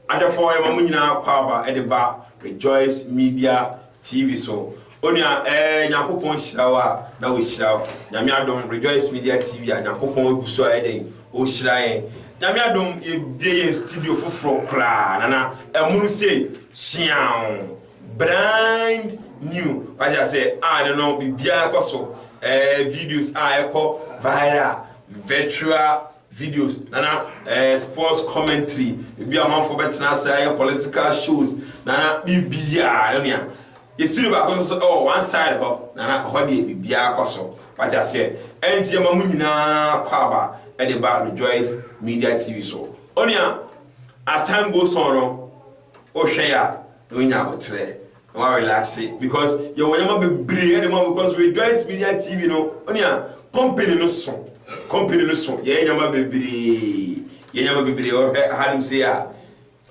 Adɔfoɔ yɛma mo nyinaa akwaaba de ba Rejoice Media TV so Onua ɛɛ Nyankopɔn hyira wo a na wahyira wo Nyame adom Rejoice Media TV a Nyankopɔn agu so ayɛ dɛn ɔrehyira yɛn Nyame adom yɛbue yɛn studio foforɔ koraa nana ɛmono sei hyeaoo brand new wagye ase a ne no biribiara kɔ so ɛɛ videos a ɛkɔ viral virtual videos na na ɛɛ sports commentary ebi a amanfoɔ bɛtena ase ayɛ political shows na na biribiara no nea yɛsi no baako nso ɛwɔ one side hɔ na na hɔ deɛ biribiara kɔ so wate aseɛ ɛnti yɛma mo nyinaa kɔ aba ɛde ba Rejoice Media TV so onua as time goes on no wohwɛ ya na wonya aboterɛ Wa relaxe because yɛ wɔ nyɛma bebree ɛde ma because rejoice media tv no onua company no so company no so yɛ nyɛma bebree yɛ nyɛma bebree ɔhwɛ ahanom sei a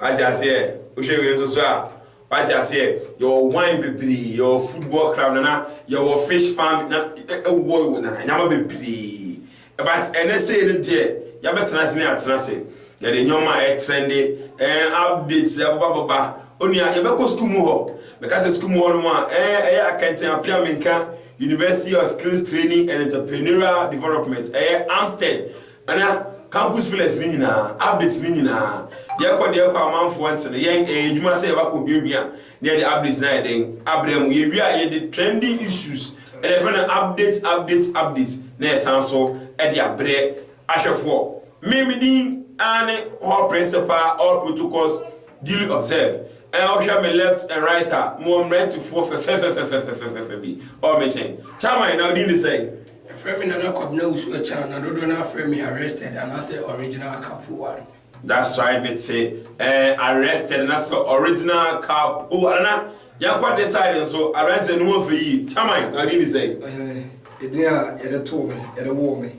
wate aseɛ wohwɛ wei nso so a wate aseɛ yɛ wɔ wine bebree yɛ wɔ football club nana yɛ wɔ fish farm na ɛwɔ nana nyɛma bebree But ɛnɛ sei no deɛ yɛabɛtena ase ne atena ase, yɛde nneɛma a ɛtrɛnde, ɛɛ updates abababa. Onua, yɛbɛkɔ sukuu mu hɔ. Meka sɛ sukuu mu hɔ nom a, ɛɛ ɛyɛ akɛntɛn apea menka University of Skills Training and Entrepreneurial Development, ɛyɛ Amsted, ɛna Campus Felix ne nyinaa, updates ne nyinaa. Yɛkɔ deɛ ɛkɔ a amanfoɔ nte no, yɛn ɛyɛ adwuma sɛ yɛbɛkɔ hwiahwia. Na yɛde updates no ayɛ dɛn abrɛ mo? Yɛwie a yɛde trending issues na yɛfrɛ no updates updates updates na yɛsan nso de abrɛ ahwɛfoɔ. Me me din ara ne Hall Principal All Protocols Duly Observed. Ɛɛ wohwɛ me left and right a mewɔ mmerantefoɔ fɛfɛfɛfɛfɛfɛfɛfɛ bi wɔ me nkyɛn. Chairman na wo din de sɛn? Yɛfrɛ me Nana Kwabena Usu Achan na dodoɔ no ara frɛ me Arrested anaasɛ Original Akapo One. That's why me te eh arrested na sɛ original car po ara na yɛn kɔ de side nso abranteɛ no ho fɛ yie chairman na ɔde ni sɛ. Eh edin a yɛde too me yɛde woo me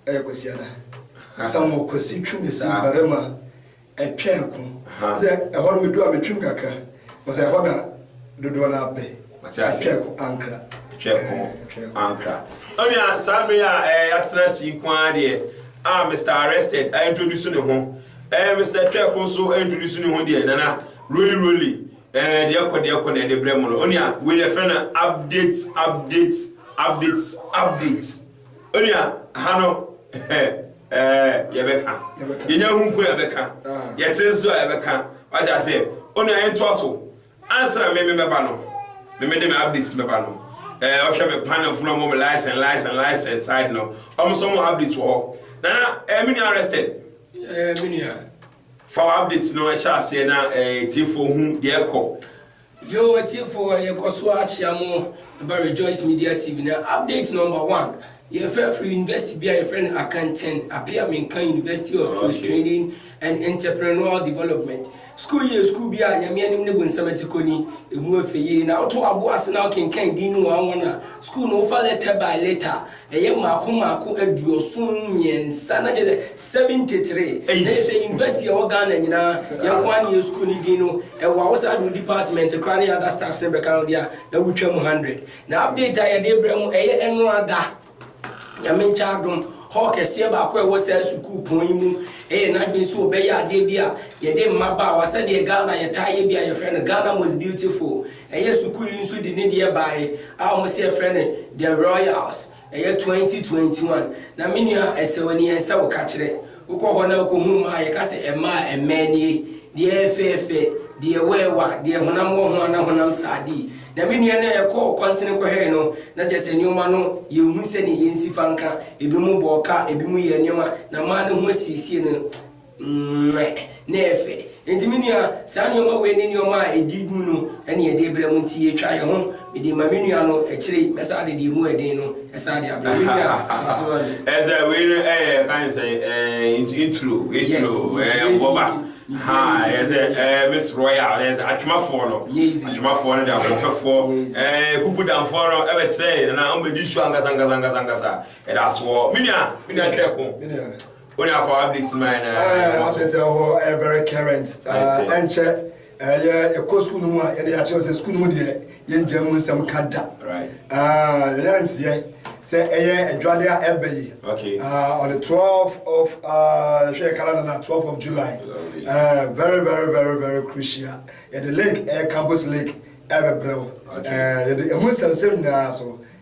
ɛyɛ Kwasi Ada Samuel Kwasi Twum si barima ɛtwɛn ko sɛ ɛhɔ no me du a me twum kakra wɔsɛ ɛhɔ na dodoɔ no abɛ. Ɔte ase. Twɛko ankra. Twɛko ankra. Onua saa bere a ɛɛ yɛatena ase yi nko ara deɛ a Mister Arrested a introduce ne ho. Ɛɛ Mister Twɛko nso a introduce ne ho deɛ nana roli roli ɛɛ deɛ kɔ deɛ kɔ na ɛde brɛ mo no. Onua wei na ɛfrɛ no updates updates updates updates. Onua ha no ɛɛ yɛbɛka. Yɛnya hu nko na yɛbɛka. Yɛte nso a yɛbɛka. Wate ase. Onua yɛntoa so. Ansa na me me mɛba no, me me de me ablis mɛba no, ɛɛ ɔhwɛ me kwan na funu ɔmo me license license license side no, ɔmo sɛ ɔmo ablis wɔ hɔ. Nana, ɛɛ me nua arrested. Ɛɛ me nua. Fa wɔ ablis no ɛhyɛ aseɛ na ɛɛ tiefoɔ hu deɛ ɛkɔ. Yo atiefoɔ yɛkɔ so akyea mo ɛba Rejoice Media TV na update number one Yɛfrɛ firi university bi a yɛfrɛ no Akanten Apia Menka University of Skills Training and Entrepreneurial Development. Sukuu yi yɛ sukuu bi a Nyame anim ne bonsam akyi kɔ ni. Ɛmu yɛ fɛ yie. Na woto aboɔ ase na wokenkan din no one one a, sukuu no wofa letter by letter a, ɛyɛ mmaako mmaako aduoson mmiɛnsa na kyerɛ sɛ seventy three. Na kyerɛ sɛ university a ɛwɔ Ghana nyinaa yɛn nko ara na yɛn sukuu no din no wɔ a, wo san de wo department koraa ne other staffs no bɛka ho deɛ a, na wotwam hundred. Na update a yɛde rebrɛ mo, ɛyɛ ɛnoara da, Nyame nkyɛ adom. Hall kɛseɛ baako a ɛwɔ saa sukuu pɔn yi mu yɛ n'adwene sɛ ɔbɛyɛ adeɛ bi a yɛde mmabaawa, sɛdeɛ Ghana yɛtaa yɛ bi a yɛfrɛ no Ghana Most Beautiful, ɛyɛ sukuu yi nso de ne deɛ baae a wɔse yɛfrɛ no The Royals. Ɛyɛ twenty twenty one na me nua ɛsɛw nie ɛnsɛ wo ka kyerɛ wokɔ hɔ na wokohu mmaa a yɛka sɛ ɛmaa ɛmɛɛ nie deɛ ɛyɛ fɛɛfɛ deɛ ɛwɔ ɛwa deɛ honam wɔ ho ana honam saa dii na me nua na yɛkɔ kwantene kɔhwɛɛ no na kyerɛ sɛ nnoɔma no yɛnhu sɛdeɛ yɛnsi fa nka ebinom bɔ ɔka ebinom yɛɛ nnoɔma na mmaa no ho asiesie no Mmɛ, na ɛyɛ fɛ. Enti me nua, saa nneɛma wei ne nneɛma a ɛdi mu no na yɛde rebrɛ mo, nti yɛtwa yɛn ho. Mede rema me nua no, akyire yi mɛsan de deɛ ɛmu yɛ den no san de abrɛ wo. Me nua, tra ase ma me. Ɛyɛ sɛ wei no yɛ, yɛka no sɛ ɛɛ, intro, intro, ɛɛ, mmoba. Ahaa, ɛyɛ sɛ ɛɛ, Miss Royal, ɛyɛ sɛ Atwemafoɔ no, Atwemafoɔ no de ahoɔfɛfoɔ, ɛɛ, Kukudanfoɔ no bɛkyerɛɛ, na wɔn bɛdi su ankasa, ankasa, ankasa, ankasa. Yɛda ase wɔ hɔ. Me nua, me nua Tweako, Wo na fa update ma yɛn na ah, yɛn so. Update ɛwɔ ɛyɛ very current. Ɛnkyɛ ɛyɛ ɛkɔ sukuu no mu a yɛde akyerɛ sɛ sukuu no mu deɛ yɛn gya mu nsɛm ka da. Yɛn yɛn nteɛ sɛ ɛyɛ adwade a ɛbɛ yi. Okay. Uh, on the 12th of ɛhwɛ uh, kala no na 12th of July. Uh, very very very very crucial. Yɛde link ɛyɛ campus link ɛbɛbrɛ wo. Okay. Uh, yɛde ɛmu nsɛmsɛm nyinaa so.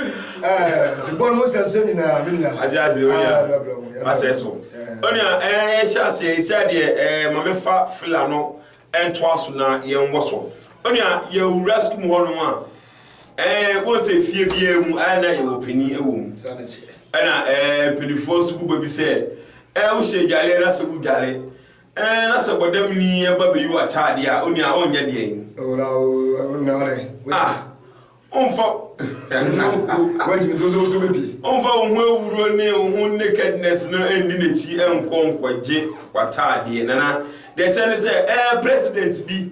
nti bɔ no ho sɛmsɛm nyinaa me nua agye ase onua asɛ so onua ɛɛ hyɛ aseɛ ɛsɛ deɛ ɛɛ ma mefa fila no ɛntoa so na yɛnwɔ so onua yɛwura sukuu mu hɔ nom a ɛɛ wɔn sɛ fie biara mu ayɛ na yɛwɔ panin ɛwɔ mu ɛna ɛɛ mpanimfoɔ nso bu baabi sɛ ɛɛ wohyɛ adwale na sɛ wodwale ɛɛ na sɛ bɔdam ni ɛba bɛyi wɔ ataadeɛ a onua ɔnyɛ deɛ yi. ɔwura ɔwura ɔwura ɔwura ah. Ɔmfa ɔmfa wo ho awuro ne wo ho nakedness no nni n'akyi nkɔ nkɔgye w'ataadeɛ. Nana, deɛ ɛkyɛ ne sɛ ɛɛ president bi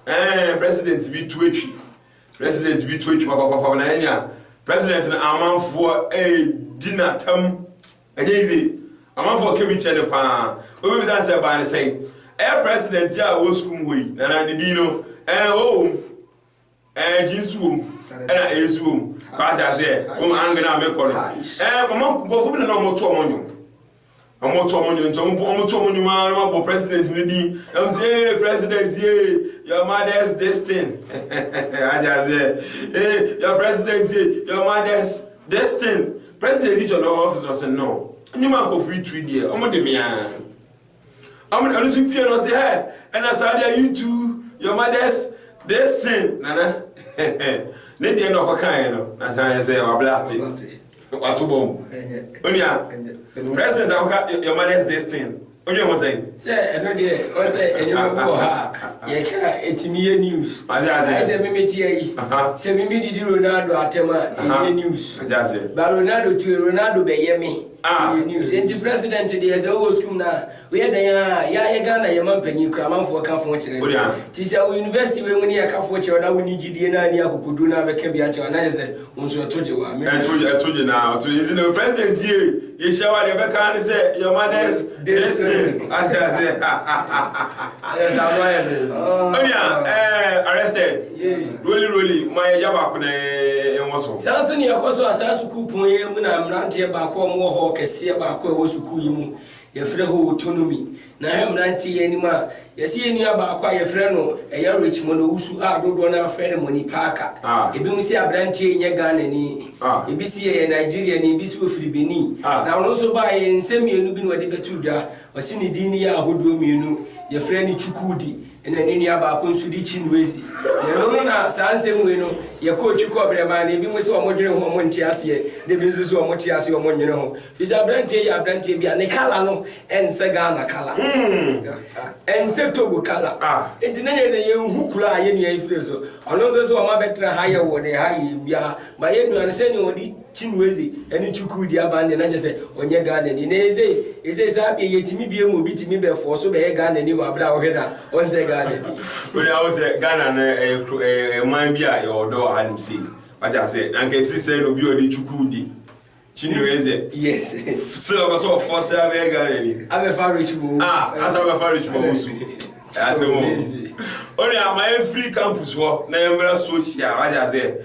ɛɛ president bi tu atwi president bi tu atwi papapapa na ɛnya president no amanfoɔ ɛɛdi n'atam ɛnyɛ yize amanfoɔ kɛ bi kyɛ ne paa obi bi sɛ baa ne sɛn ɛɛ president a wɔ sukuu mu hɔ yi nana ne din no ɛɛ ɔwɔ mu. Ɛɛ gye nsu wɔ mu ɛna ɛyɛ nsu wɔ mu so ate aseɛ wɔn angana a mekɔ no ɛɛ wɔn nkɔfo bi na wɔn to wɔn nwom wɔn to wɔn nwom nti wɔn wɔn to wɔn nwom ara na wɔabɔ president ne din na wɔn sɛ ee president yee your mother's this thing ate aseɛ ee your president yee your mother's this thing president yi twɛ no ɔfis ɔsɛ no nwom a nkɔfo yi tu deɛ wɔn de mea. Amen ɛno so pie no se hɛ ɛna saa deɛ you too your mothers they sin nana ne deɛ na ɔkɔ kan no na saa yɛ sɛ wa blast wato bɔm onua president akoka your mothers they sin onua ho sɛn. sɛ ɛno deɛ ɔsɛ ɛnyɛma bi wɔ ha yɛka ɛtumi yɛ news ayɛ sɛ memekyia yi sɛ meme didi ronaldo atɛm a ɛnyɛ news ba ronaldo tue ronaldo bɛyɛ me Ah yɛ news nti president deɛ sɛ wowɔ school mu no a woyɛ dɛn a yɛa yɛ Ghana yɛ ma mpanyin kura amanfoɔ ka fo kyerɛ no nti sɛ wo university wei mu no yɛka fo kyerɛ wo na wonni gyidie na anni akokoduro na abɛka bi akyerɛ wo a na kyerɛ sɛ wo nso ɛto gye wo a me Ɛto ɛto gye na ɔto gye nti no president yie yɛhyia wo a deɛ ɛbɛka ne sɛ your mother's destiny ate aseɛ Ɛyɛ saa no ayɛ den. onua ɛɛ arrested. Rolly rolly, momma yɛgya baako na yɛnwɔ so. Saa nso na ɛkɔ so a saa sukuu pon yi mu na mmeranteɛ baako a wɔwɔ hɔɔ kɛseɛ baako a ɛwɔ sukuu yi mu, yɛfrɛ hɔ Autonomy, na ɛhwɛ mmeranteɛ yi anim a, yɛse yɛn nua baako a yɛfrɛ no ɛyɛ Richmond Owusu a dodoɔ no ara frɛ no Money Parker. Ebinom se aberanteɛ yi nyɛ Ghanani, ebi se ɛyɛ Nigeriani, ebi se ɔfiri Benin, na ɔno nso baeɛ, nsɛm mmienu bi na ɔde bɛto dwa, ɔse ne din no yɛ ahodoɔ mmienu, yɛfrɛ no Chukwudi, Ɛnna ne nua baako nso de Chinua si. Yɛno no na saa nsɛm wei no, yɛkɔɔ Twi kɔbrɛ maa no. Ebinom se wɔdwene ho, wɔnte aseɛ, na ebi nso se wɔte aseɛ, wɔnnwene ho. Ɛfiri sɛ aberanteɛ yi yɛ aberanteɛ bi a ne colour no nsɛ Ghana colour, ɛnsɛ Togo colour, enti na yɛn sɛ yɛnhu kuro a yɛn nua yi firi so. Ɔno nso se wɔabɛtena ha ayɛ wɔn ha yie biara, but yɛn nua no sɛdeɛ ɔde. Chinweze ɛne Chukwu di aban deɛ na kyerɛ sɛ ɔnyɛ Ghanani na eze eze saa deɛ yɛtumi biem obi tumi bɛ fɔɔ so bɛyɛ Ghanani wɔ abere a ɔhwɛ no a ɔnsɛ Ghanani. Wode ahu sɛ Ghana no ɛyɛ kuro ɛyɛ man bi a yɛwɔ dɔ wɔ ha nom sei wate aseɛ na nka ɛsisi sɛɛ na obi a ɔde Chukwu di Chinweze yes still ɔpɛ sɛ ɔfɔɔ sɛ abɛyɛ Ghanani abɛfa Rich Mo ah asa abɛfa Rich Mo ho su ɛyɛ asɛm o onua ma yɛn firi campus hɔ na yɛn mmra social wate aseɛ.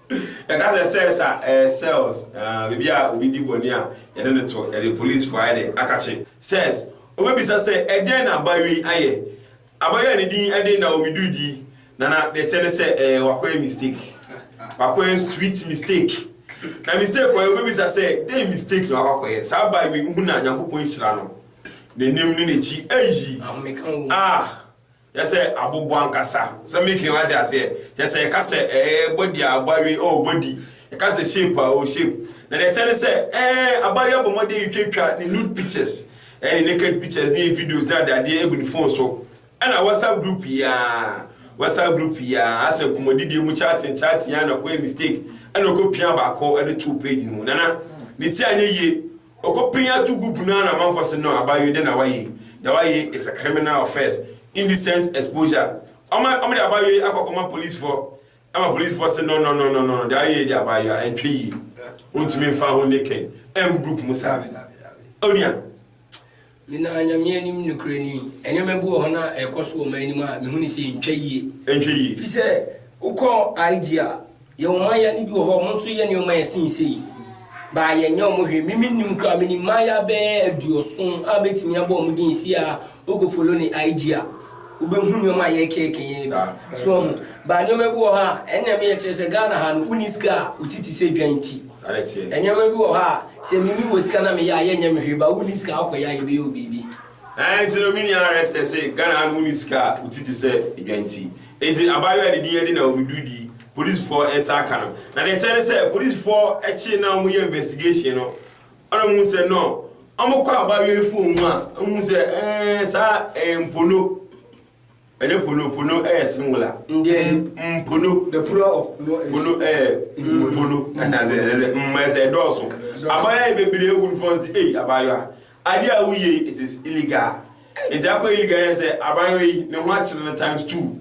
Yɛka sɛ cells a, ɛyɛ cells, ah, baabi a obi di bɔne a yɛde no to, yɛde polisifo ayɛ dɛ akakye, cells. Wobebisa sɛ, Ɛdɛn na abayewa yi ayɛ? Abayewa a ne din de Naomi Dude yi, na na deɛ ɛteɛ ne sɛ, ɛɛ, wakɔyɛ mistake. Wakɔyɛ sweet mistake. Na mistake ɔyɛ, wobebisa sɛ, Dɛn mistake na wakɔ akɔyɛ? Saa abayewa yi, wohu no a, Nyankopɔn nhyira no. N'anim ne n'akyi, eii, ah! Kyerɛ sɛ abobo ankasa. Sɛ making wate aseɛ. Kyerɛ sɛ yɛka sɛ ɛɛ body a abɔawe oh body. Yɛka sɛ shape a oh shape. Na deɛ ɛteɛ ne sɛ ɛɛ abɔawe abɔ mmɔden retwatwa ne nude pictures ɛne ne naked pictures ne videos ne adeadeɛ agu ne phone so. Ɛna WhatsApp group yi ara WhatsApp group yi ara asɛ nkɔmmɔdidie mu chatting chatting ara na ɔkɔyɛ mistake ɛna ɔkɔpia baako de too page no mu. Nana ne ti anyɛ yie. Ɔkɔ pin ato gu punu ara na amanfoɔ se no abayewa dɛn na wayɛ yi deɛ wayɛ yi is a criminal offence indecent exposure ɔma ɔmo de abayewa yi akɔ akɔma policefoɔ ɛma policefoɔ se no no no no no deɛ wayɛ yi deɛ abayewa ɛntwɛ yie wontumi nfa ho naked ɛngu group mu saa onua Menaa Nyame anim nokorɛ ni. Nneɛma bi wɔ hɔ na ɛrekɔ so wɔ man no mu a mehu no sɛ ɛntwa yie. Ɛntwa yie. Ɛfiri sɛ wokɔ IG a, yɛwɔ mmaayaa no bi wɔ hɔ a wɔn nso yɛ nneɛma a ɛsen sei. But yɛnyɛ wɔn hwee. Me mennim koraa, menim mmaayaa bɛyɛ aduɔson a mɛtumi abɔ wɔn din sei a wokɔ follow no IG a. Wobɛhu nnoɔma a yɛrekɛkɛ yi bi, so wahu? But nnoɔma bi wɔ hɔ a, ɛno na ɛmɛyɛ kyerɛ sɛ Ghana ha no, wonni sika a, wo ti te sɛ dwan nti. Nnoɔma bi wɔ hɔ a, sɛ me mewɔ sika na meyɛ a, yɛnyɛ me hwee, but wonni sika a, wokɔyɛ a, yɛbɛyɛ wo biribi. Ɛɛ, nti no, me nua Arester, se Ghana ha no, wonni sika a, wo ti te sɛ dwan nti. Nti, abaayewa a ne din Edina Omiduidi, polisfoɔ nsa aka no. Na deɛ ɛteɛ ne sɛ, polisfoɔ kyee no a wɔyɛ investigation no, Ɔna ɔhuu sɛ nɔ ɔmo kɔ aba awiei foo ho a, ɔhuu sɛ ɛɛ saa ɛɛ mpono, ɛnyɛ pono, pono ɛyɛ singula. Ndeɛ. M, mpono. The plural of no is. Pono ɛyɛ mpono, ɛnazɛ ɛnazɛ m ɛsɛ ɛdɔɔso. Abaayewa yɛ bebree ehu nfɔn si, ei abaayewa, adeɛ a woyɛ yi, it is illegal. Nti akɔ illegal yɛ sɛ abaayewa yi ne ho akyere no times two.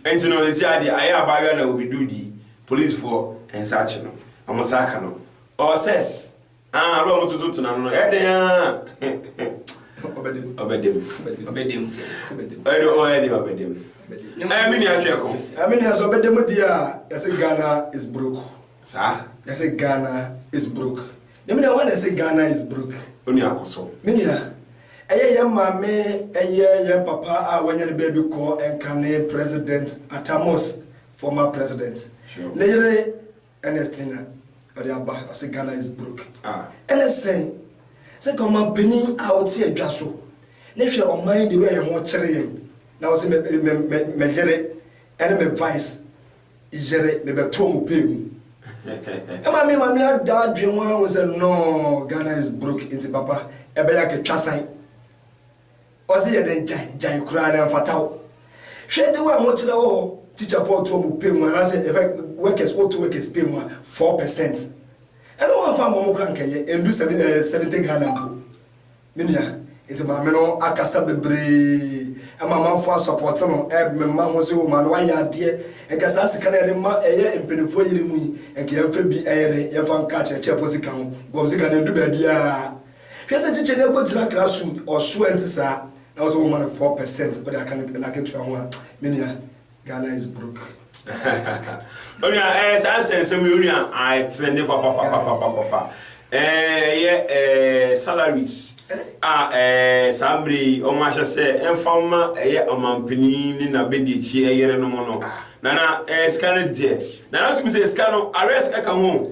Nti no, sisi adeɛ ayɛ abaayewa na obi do di, polisifoɔ nsa akye no, ɔmo nsa aka no. Ɔsɛs, Ah, bere a wɔtoto to n'ano no, ɛdɛn ara. Ɔbɛdem. Ɔbɛdem. Ɔbɛdem sɛ. Ɛde ɔn ɛde ɔbɛdem. Ɛɛ mi ni atwe ɛko. Ɛmi ni ɛsɛ ɔbɛdem di a yɛsɛ Ghana is broke. Saa. Yɛsɛ Ghana is broke. Ne mi ni awa na yɛsɛ Ghana is broke. Oni akɔsɔ. Mi ni a. Ɛyɛ yɛn maame ɛyɛ yɛn papa a wɔnyɛ ne baabi kɔ ɛnka ne president Atamos former president. Ne yere. Ernestina ɔde aba, ɔse Ghana is broke a ɛne sɛn? Sɛ ka ɔmanpanin a ɔte adwa so ne hwɛ ɔman yi the way a yɛn ho kyere yɛn na ɔse me me me me yere ɛne me vice yere me bɛto ɔmo pay mu. Ɛma me ma me ada adwene ho ahu sɛ nɔɔ Ghana is broke nti papa ɛbɛyɛ aketwasan. Ɔse yɛ dɛn gyae gyae koraa na ɛnfata wo hwɛ de wo ahokyerɛ wɔ hɔ teacher foɔ to ɔmo pɛ mu anaasɛ yɛfrɛ workers wo to workers pɛ mu a four percent ɛna wo anfa ama ɔmo koraa nka yɛ ɛndu seven ɛɛ seventy Ghana mpo me nua nti maame no akasa bebree ɛma amanfoɔ asɔpɔte no ɛɛ me mma ho se o maame wayɛ adeɛ nka saa sika no a yɛde ma ɛyɛ mpaninfoɔ yere mu yi nka yɛnfa bi ɛyɛ dɛn yɛnfa nka akyerɛkyerɛfoɔ sika ho bcos sika no ɛndu baabiaa Hwɛ sɛ kyekyɛ no akogyina kra som ɔso a ɛnte saa na wɔ sɛ wɔma no four percent wode aka no n'akatua ho a me nua Ghana is broke. Onua eh saa nsɛnsɛm yi onua I trend papa papa papa papa eh yɛ eh salaries a eh saa mmerɛ yi wɔn ahyɛ sɛ ɛnfa ma ɛyɛ ɔmampanin ne n'abɛdiakyi ɛyere no mo no nana eh sika no deɛ nana tumi sɛ sika no arrest ɛka ho.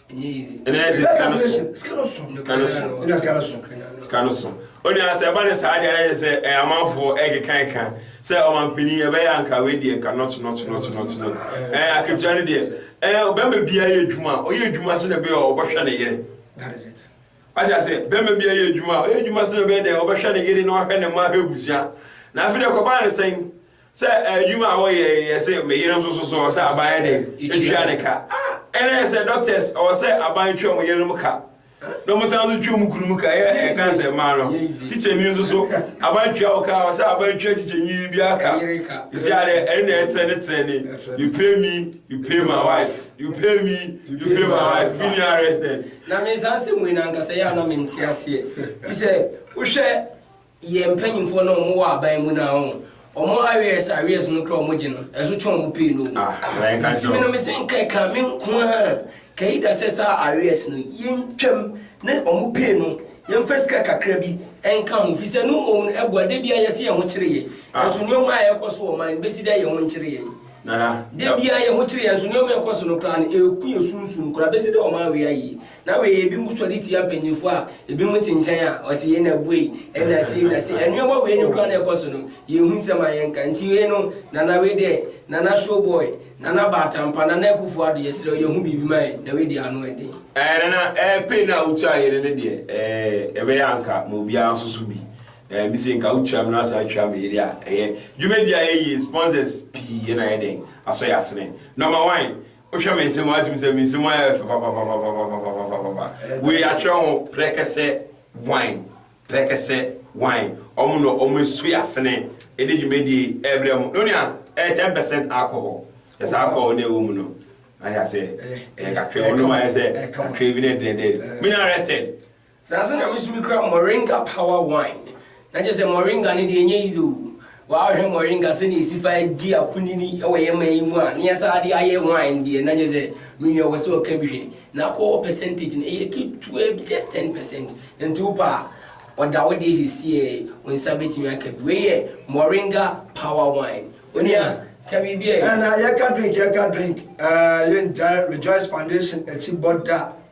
onua sɛ ɛba ne saa deɛ ɛyɛ sɛ ɛyɛ amanfoɔ ɛkeka ɛka sɛ ɔmampanin ɛbɛyɛ anka wei deɛ nka not not not not not ɛɛ akatua no deɛ ɛɛ ɔbɛma bia yɛ adwuma ɔyɛ adwuma sɛ na ɛbɛyɛ ɔbɛhwɛ ne yere ɔte ase bɛma bia yɛ adwuma ɔyɛ adwuma sɛ na ɛbɛyɛ deɛ ɔbɛhwɛ ne yere na ɔhwɛ ne mma ahwɛ abusua na afei deɛ kɔbaa ne sɛn Sɛ adwuma a wɔyɛ yɛ se me yere nso so so ɔsɛ aban yɛ dɛn ɛtua ne ka ɛna yɛ sɛ doctors ɔwɔ sɛ aban twa ɔmo yerenom ka na ɔmo san so twa ɔmo kunumu ka yɛ ɛyɛ kan sɛ mmaa no kyikyɛni nso so aban tua wo ka ɔsɛ aban tua kyikyɛni yiri biara ka ɛsi adeɛ ɛne na ɛtrɛ ne trɛ ne you pay me you pay my wife you pay me you pay my wife bi ni arrest na me nsa ase mu na nkasa yɛ anam nti aseɛ sɛ wohwɛ Yɛ mpanyimfoɔ na ɔmo wɔ aban mu no a ɔmo arrears arrears no koraa ɔmo gye no ɛso kyɛn ɔmo pay no o. Nti me no me se nka ɛkaa me nkoaa Kaida sɛ saa arrears no yɛ ntwam ne ɔmo pay no yɛ nfa sika kakra bi nka ho fisɛ no mmom no ɛboa da biaa yɛse yɛn ho kyere yɛ nso nnoɔma a ɛkɔ so wɔ ɔman no besi dɛ yɛn ho nkyere yɛn da biaa yɛn ho kyere yɛn nso nnoɔma a ɛkɔ so no koraa no ɛku yɛ sunsum koraa besi dɛ ɔman wei ayie. Na wei yɛ binom sɔre tia mpanyinfoɔ a ebinom te nkyɛn a ɔse yei na buei, ɛna sei na sei, ɛnoɔma wei no koraa na ɛkɔ so no yɛn hu nsɛm a yɛn ka, nti wei no Nana wei deɛ Nana show boy, Nana Baatampa, Nana Akuffo Addo yɛsrɛ wo yɛn ho biribi ma yɛn, na wei deɛ ano ɛden. Ɛɛ Nana ɛɛ pain a wotua yɛn no ne deɛ ɛɛ ɛbɛyɛ a nka ma obiara nso so bi, ɛɛ mise nka wotua me na wasan atua me yere a ɛyɛ, dwumadie a yɛyie sponsors pii na ayɛ dɛn asɔ yɛn asene, number one. Wohwɛ me nsɛm a wotumi sɛ me nsɛm ayɛ fɛ papapapapapapapapa. Wei atwerɛ ho prɛkɛsɛ wan prɛkɛsɛ wan ɔmo na ɔmo esu asene ede dwumadie ɛbrɛ mo no nea ɛyɛ ten percent alcohol yɛ saa alcohol na ɛwɔ mu no ayɛ sɛ ɛyɛ kakra wɔn nom ayɛ sɛ kakra bi na ɛdɛdɛ mo nyɛ arrested. Saa nso na me nso mekura moringa power wine na kyerɛ sɛ moringa no deɛ ɛnyɛ easy o waa hwɛ moringa sɛdeɛ ɛsi fa di akunini wɔ yɛn man yi mu a na yɛsan de ayɛ wine deɛ na kyerɛ sɛ me nua wɔ sɛ ɔka bi hwɛ na alcohol percentage no ɛyɛ ketewa bi just ten percent nti wo pɛ a ɔda wo deɛ siesie wo nsa bɛtumi aka bi wei yɛ moringa power wine onua ka biribi a ɛyɛ. Ɛna yɛka drink yɛka drink ɛɛ yɛngyae Rejoice Foundation akyi bɔ da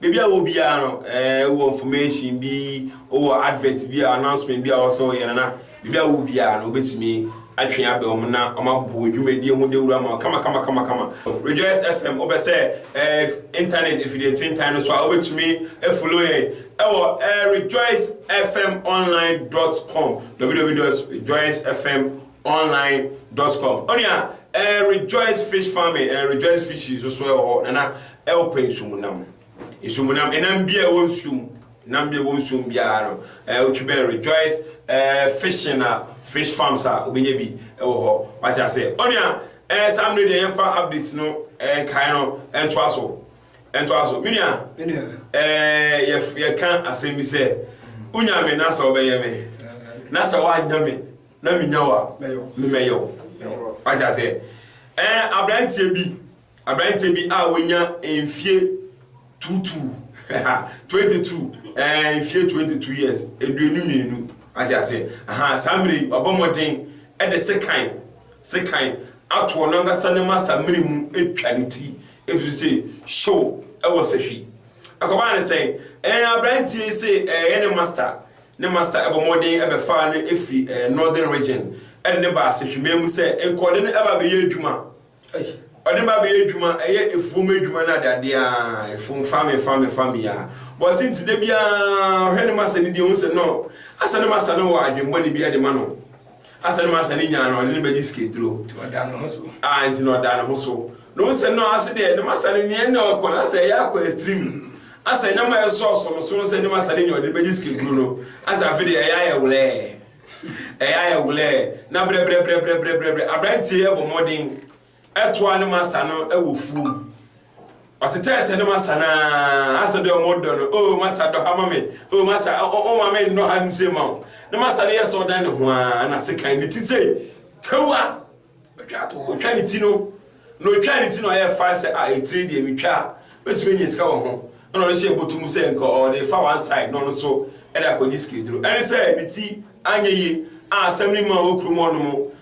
Baabi a wowɔ biara no, wowɔ information bi, wowɔ advert bi a, announcement bi a ɔwɔ sɛ woyɛ no, na baabi a wowɔ biara no, wobɛtumi atwe abɛn wɔn na wɔabɔ wo dwumadie ho dawuro ama wo kamakamakama. Rejoice FM, wopɛ sɛ internet afidiententan no so a, wobɛtumi afollow yɛn wɔ rejoicefmonline dot com, www dot rejoicefm online dot com onua eh, rejoice fish farming eh, rejoice fish nso so ɛwɔ hɔ nana ɛwɔ pɛ nsumunam nsumunam ɛnam bi a ɛwɔ nsuom nam bi a ɛwɔ nsuom biara no ɛɛ eh, otwi bɛn rejoice ɛɛ eh, fishing a fish farms a obɛnya bi ɛwɔ hɔ wate ase onua ɛɛ saa mmiri deɛ yɛfa updates no ɛɛ nkae no ɛntoa so ɛntoa so menua ɛɛ yɛ yɛka asɛm bi sɛ wonya me na sɛ ɔbɛyɛ me na sɛ woanya me na minya wo a, me mɛyɛ wo. Wate aseɛ? Ɛɛ aberanteɛ bi, aberanteɛ bi a wɔnya mfie tuutuu, 22, ɛɛ mfie 22 years, aduonu mmienu. Wate aseɛ? Aha, saa mmerɛ yi, wabɔ mmɔden de sekan, sekan atoɔ no ankasa ne masa mmiri mu atwa ne ti, ɛfiri sɛ hyew ɛwɔ sahwi. Akɔbaa ne sɛn? Ɛɛ aberanteɛ yi se ɛyɛ ne masta, Ne master ɛbɔ mmɔden ɛbɛfaa no ɛfiri ɛɛ Northern Region ɛde no baa Sehwiman mu sɛ nka ɔde no ɛba abɛyɛ adwuma. Ei! Ɔde no ba abɛyɛ adwuma, ɛyɛ afuom adwuma ne adeadeɛ aa, afuom fa me fa me fa me yi aa. Boase nti da biara ɔhwɛ ne master no bi ɔhu sɛ nɔɔ asɛ ne master no wɔ adwemmɔne bi ɛde ma no. Asɛn mu asɛn ne nyinaa no, ɔde no bɛgye sikaduro. Nti ɔda ne ho so. A, nti na ɔda ne ho so. Na ɔhu sɛ, no, aso deɛ, ne masa no nneɛ na ɔkɔ, na sɛ ɛyɛ akɔ extreme no, asɛ ɛnyɛ ma ɛsɔ so no so no sɛ ne masa no nyɛ ɔde no bɛgye sikaduro no, asɛ afe deɛ ɛyɛ ayɛ wlɛɛ. Ɛyɛ ayɛ wlɛɛ. Na brɛbrɛbrɛbrɛbrɛbrɛbrɛ, aberanteɛ yi abɔ mmɔden. Ɛtoaa ne masa no wɔ fuo mu. Ɔtetɛɛtɛ ne masa no aa asɛ dɛ ɔmo dɔ no, oh masa dɔ ha ma me, oh masa oh ma me nnɔ ha nom sei ma wo. Ne masa no yɛ sɛ ɔdan ne ho aa na sekan ne ti sei, tew a ɔtwa to hɔ. Ɔtwa ne ti no, na ɔtwaa ne ti no ɔyɛɛ faa sɛ ah etire deɛ me twa a mɛsumi anya sika wɔ ho. Ɛna ɔno hyɛɛ bɔtɔ mu sɛ nka ɔde refa one side na ɔno nso de akɔgye sika aduro. Ɛne sɛ ne ti anyɛ yie a asɛm no mmaa wɔ kurom hɔ nom.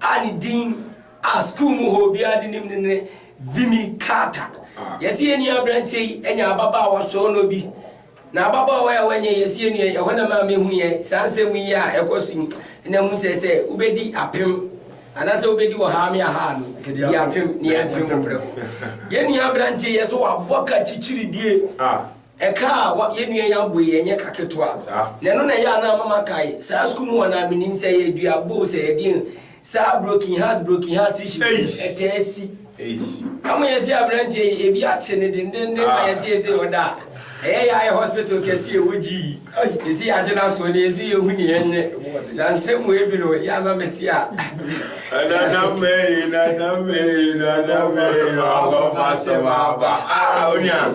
a ne din a sukuu mu hɔ obiara de nim no ne Vimy Carter. Yɛse yɛn nua aberanteɛ yi anya ababaawa soronɔ bi. Na ababaawa yi a wanya yi, yɛse yɛn nua yi, ɛhɔ na ɛmaa mehuiɛ saa nsɛm yi a ɛkɔ so yi. Ɛna hu sɛ sɛ wobɛdi apem anaasɛ wobɛdi ɔhaa me ahaa no, di apem na yɛn apem wo prɛko. Yɛn nua aberanteɛ yi, yɛse wabɔ ka kyikyiridie. Ɛka a wa yɛn nua yi abɔ yi ɛnyɛ ka ketewa. Na ɛno na ɛyɛ a na ama makae saa sukuu mu hɔ no a menim sɛ ɛyɛ dua bow sɛ ɛdeɛn saa broken heart broken heart issues no Eish! ɛtaa si. Eish! Na mo yɛ se abranteɛ yi ebi akye no dendenden na yɛ se yɛse ɔda a ɛyɛ yɛ ayɛ hospital kɛse ɛwɔ GE yɛse yɛagye no ato hɔ na yɛse yɛhu nea ɛnyɛ na nsɛm wei bi no yɛ a na mete a Nanam ee, nanam ee, nanam ee, wabɔ m'asɛm aba. Ah, onua.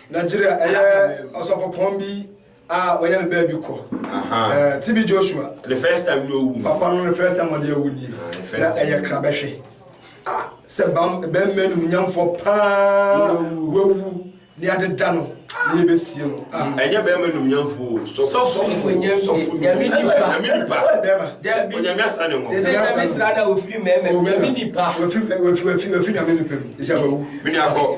Nigeria ɛyɛ ɔsɔpɔpɔn bi a wɔyɛ no baabi kɔ eh, TB Joshua the first time no owu papa no the first time ɔde awu nie ah, na ɛyɛ kra bɛhwɛ ah, sɛ bɛmma no nyamfoɔ paa wawu ne adeda no ne yɛbɛsie no ah. mm, ɛnyɛ bɛrima nom nyamfoɔ sɔfo nyame nipa wafi nyame nipa mu ɛsɛ wawu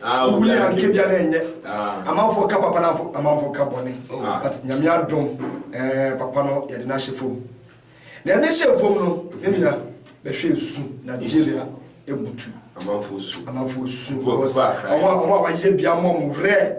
Wowu yɛ anke bia na ɛnyɛ. Amanfoɔ ka papa na amanfoɔ ka bɔne. But Nyame adom eh papa no yɛde no ahyɛ fam. Na yɛde no hyɛɛ fam no me nua bɛhwɛ ɛsu Nigeria ɛbutu. Amanfoɔ su. Amanfoɔ su. Ɔmo a ɔmo a wayɛ bia mɔ ɔmo werɛ.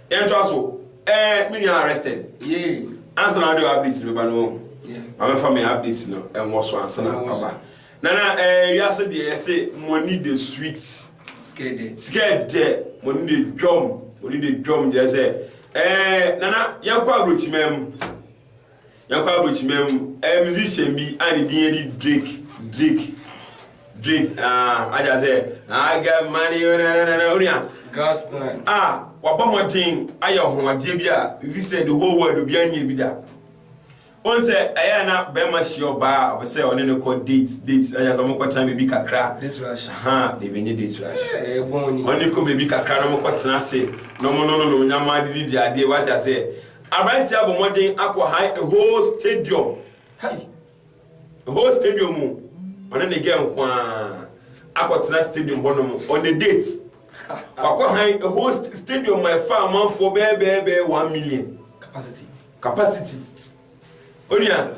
Yɛn toa so ɛɛ me nua arrested yee ansa na ɔde updates bɛba no wɔn ma mɛfa me updates no ɛnwɔ so ansa na ɔba nana ɛɛ wiase deɛ yɛse money de sweet sikɛ dɛ money de dwom money de dwom gyerɛ sɛ ɛɛ nana yɛnkɔ aburokyimam Yɛnkɔ abrokyima mu ɛyɛ musician bi a ne din ɛde Drake Drake Drake ah wagya sɛ I got money oh na na na na onua God's plan ah wabɔ mmɔden ayɛ ɔhoɔdeɛ bi a ebi sɛ the whole world obi anyɛ bi da wɔn sɛ ɛyɛ na bɛrima hyia ɔbaa a ɔpɛ sɛ ɔne ne kɔ date date wagya sɛ wɔkɔ tena baabi kakra date rush ha baabi nye date rush ɛyɛ bɔn ni ɔne kɔ baabi kakra na wɔkɔ tena ase na wɔn no no nom nyama de di adeɛ wagya sɛ. Aberanteɛ abɔ mmɔden akɔ hae a whole stadium hai a whole stadium mu ɔne ne girl nko ara akɔtena stadium hɔnom on a date wakɔ hae a whole st stadium ma ɛfa amanfoɔ bɛɛbɛɛbɛɛ one million capacity capacity onua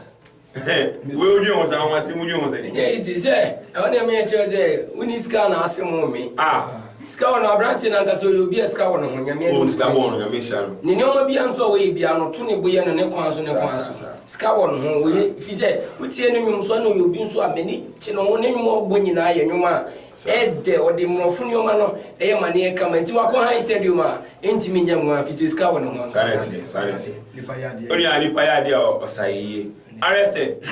Wei wo dwen ho saa wɔn ase wo dwen ho sɛ. Ɛnyɛ easy sɛ ɛwɔ nea meyɛ kyerɛ sɛ wonni sika na ase mo me. Ah. Sika wɔ no aberante no ankasa ɔyɛ obi a sika wɔ no ho nyame anim. Oh sika wɔ no nyame hyira no. Ne nneɛma bia nso a wɔyɛ bia no to ne bo yɛ no ne kwan so ne kwan so. Sika wɔ no ho wɔyɛ fi sɛ wotie ne nwom so ɛna ɔyɛ obi nso a m'ani kye ne ho ne nwom a ɔbɔ nyinaa yɛ nwom a Ɛdɛ, ɔde mmorɔfo nneɛma no yɛ amanneɛ kama, enti wakɔ Heinz Stadium a entumi nyɛ nwaa fi sɛ sika wɔ ne ho ankasa. Saa na ɛteɛ, saa na ɛteɛ. Nipa yɛ adeɛ. Onua, nipa yɛ adeɛ a ɔsa yɛ yie. Arrested,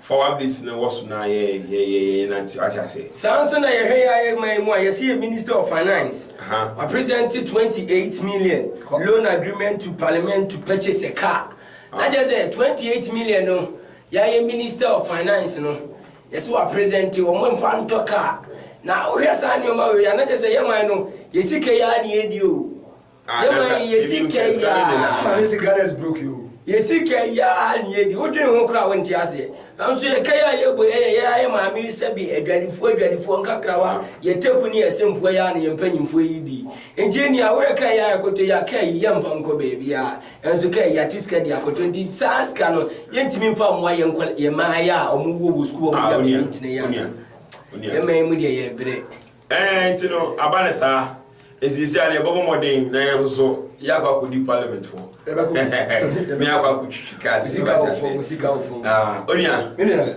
fa w'ablis no wɔ so na yɛ, yɛ, yɛ, yɛ, yɛnante, wate aseɛ. Saa nso na yɛhwɛ yɛ ayɛ man mu a yɛse yɛ Minister of Finance, Aha. wapresente 28 million loan agreement to Parliament to purchase a car. Na kyerɛ sɛ 28 million no, yɛayɛ Minister of Finance no, Yɛse wa presente wɔn mfa ntɔ car na wohwɛ saa nneɛma wei a na kyerɛ sɛ yɛ man no yɛ sika yi ara na yɛdi o yɛ man yi yɛ sika yi ara yɛ sika yi ara na yɛdi wodwene ho koraa wonte aseɛ nanso yɛ ka yi a yɛbɔ yɛ yɛ yɛ ara yɛ maame yi sɛbi adwadifoɔ adwadifoɔ nkakrawa yɛ teku ne yɛ sempoɔ yi ara na yɛ mpanyinfoɔ yi di nti nea woyɛ ka yi ara yɛkoto yɛ aka yi yɛmfa nkɔ baabiara Nso kɛ yɛakye sika de akɔtɔ nti saa sika no yɛntumi mfa mmoa yɛn nkwa yɛn mmaayaa a wɔn wɔ wɔ sukuu hɔ wɔn nua bɛn ntene yɛn anaa yɛn man mu deɛ yɛbrɛ. Ɛɛ nti no aba ne saa nti sisi a yɛbɛbɔ mmɔden na yɛn nso yɛakɔ akɔdi parliament hɔ ne yɛakɔ akɔtwitwi cars sika wɔ fam sika wɔ fam onua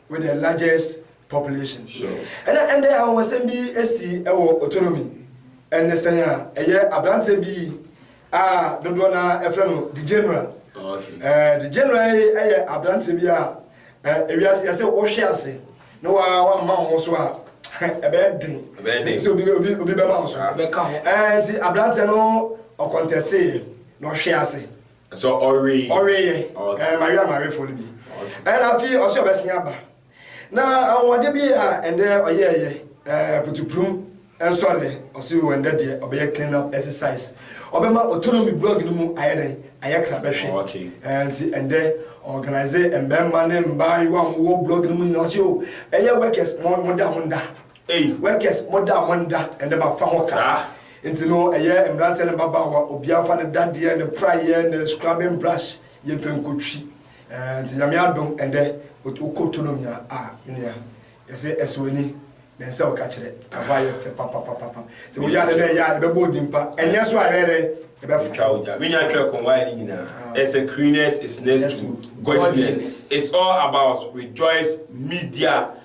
with the largest population. Ɛna ɛndɛ ahomɔsɛm bi esi ɛwɔ Otonomi, ɛnɛsɛn a ɛyɛ aberanteɛ bi a dodoɔ na ɛfrɛ no the general. Oh, okay. Ɛɛ the general yi ɛyɛ aberanteɛ bi a ɛɛ ewiase yɛsɛ wɔhwɛ ase na wa wa ma wɔn so a ɛbɛyɛ den. Ɛbɛyɛ den. Nti obi obi obi bɛma wɔn so. Ɛbɛka ho. Ɛɛ nti aberanteɛ no ɔkɔntɛste na ɔhwɛ ase. So ɔwe. Ɔwe yɛ. Ɛɛ Maria Marefo no bi. Ɛna afi ɔsɛ ɔbɛsen aba. Na ahoɔden bi a ɛndɛ ɔyɛ yɛ ɛɛ putuprum nsɔre ɔsɛ wɔ ɛndɛ deɛ ɔbɛyɛ clean up exercise. Ɔbɛma autonomy blog no mu ayɛ dɛn ayɛ kra bɛhwɛ. Ɛɛ nti ɛndɛ organize mbɛɛma ne mbaayewa a wɔwɔ blog no mu nyinaa ɔsɛ o ɛyɛ workers mo mo da mo nda. Workers mo da mo nda ɛndɛ ma fa ho ka. Enti no, ɛyɛ mmeranteɛ ne mmabaawa, obiara mfa ne dadeɛ, ne praeɛ, ne scrubbing brush, yɛmfa nkɔtwi. Ɛɛ, nti Nyame adom ɛndɛ, wokɔ Tonomi a, ah, me nua, yɛse ɛsɛ w'ani, na ɛnsɛ woka kyerɛ, ɛhɔ ayɛ fɛ papapapapa. Sɛ woyɛ ade na ɛyɛ a, yɛbɛbɔ wo din pa, ɛnyɛ nso a, yɛbɛyɛ dɛn? Yɛbɛfa. Yɛtwa wo gya. Me nua twerɛ Konwaayɛ no nyinaa, ɛsɛ cleaners is next to godliness, it's all about Rejoice Media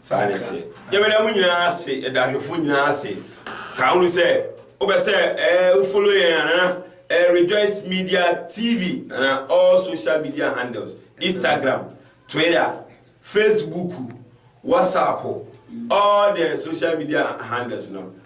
Saa na ɛteɛ. Yɛbɛda mo nyinaa ase, yɛda ahwɛfoɔ nyinaa ase. Ka hunu sɛ wopɛ sɛ eh, wo follow yɛn a, nana eh, Rejoice Media TV, nana all social media handles, Instagram, Twitter, Facebook, WhatsApp, all the social media handles no.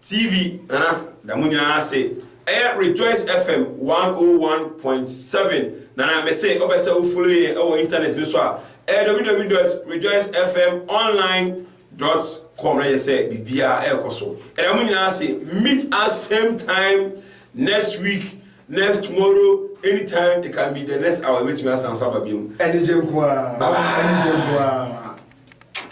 TV nana da mo nyinaa ase ɛyɛ rejoice FM one oh one point seven nana me se ɔpɛ sɛ o follow yɛn ɛwɔ internet no so a ɛyɛ www dot rejoice fm online dot com na yɛ sɛ biribiara ɛrekɔ so ɛda mo nyinaa ase meet us same time next week next tomorrow anytime it can be the next hour ebetumi asan so aba bi mu anigye nkoa bye bye anigye nkoa.